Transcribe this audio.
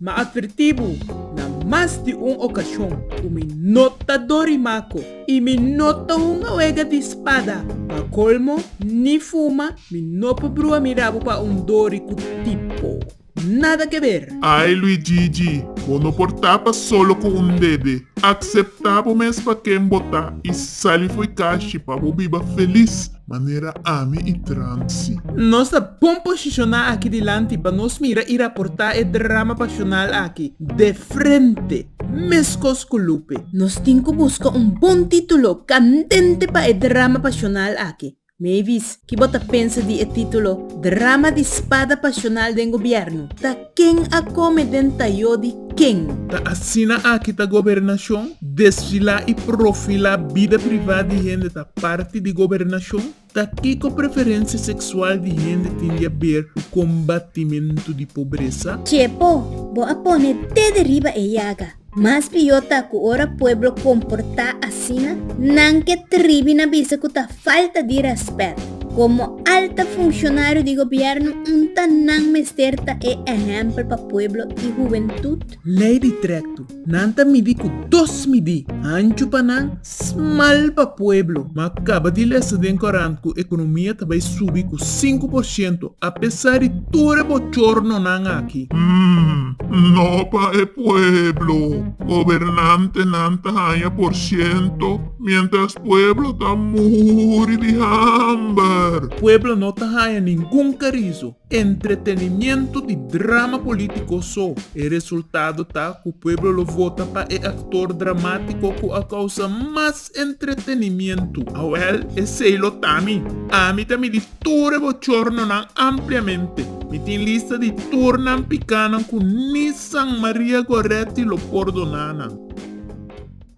Mi a advertí bo na mas di un okashon ku mi no ta dorimako i mi no ta hunga wega di spada. Pa kolmo, ni fuma mi no por brua mi rabu pa un dori ku tipo. Nada ke ber! Ai Luigigi, bo no por tapa solo ku un dede. Akseptá bo mes pa ken bo ta i sali fo'i kashi pa bo biba felis. manera ami i Trancy. Nos ta bon posishoná aki dilanti pa nos mira i raportá e drama pashonal aki de frente, meskos ku Lupe. Nos tin ku buska un bon título kandente pa e drama pashonal aki. Mavis, ki bo ta pensa di e título Drama di spada pashonal den gobièrnu? Ta. Ken a kome den tayó di ken? Ta asina aki ta gobernashon? Desfilá i profilá bida privá di hende ta parti di gobernashon? Ta kiko preferensia seksual di hende tin di aber ku kombatimentu di pobresa? Txepo, bo a pone dede riba e yaga. Mas pió ta ku ora pueblo komportá asina, nan ke tribi na bisa ku ta falta di rèspèt. Komo alta funshonarionan di gobièrnu, unta nan mester ta e ehèmpel pa pueblo i huventut? Lei di trektu. Nan ta midí ku dos midí, anchu pa nan, Smal pa pueblo, ma kaba di lesa den korant ku ekonomia ta bai subi ku sinku por shento apesar di tur e bochornonan aki. Hum, no pa e pueblo. Gobernantenan ta haña por shento, mientras pueblo ta muri di hamber. Pueblo no ta haña ningun karizo. Entretenimiento di drama politico so. E resultado ta cu pueblo lo vota pa e actor dramatico cu a causa mas entretenimiento. Awel, esey lo ta mi. Ami ta midi tur e bochornonan ampliamente. Mi tin lista di tur nan picanan cu ni San Maria Goretti lo pordona nan.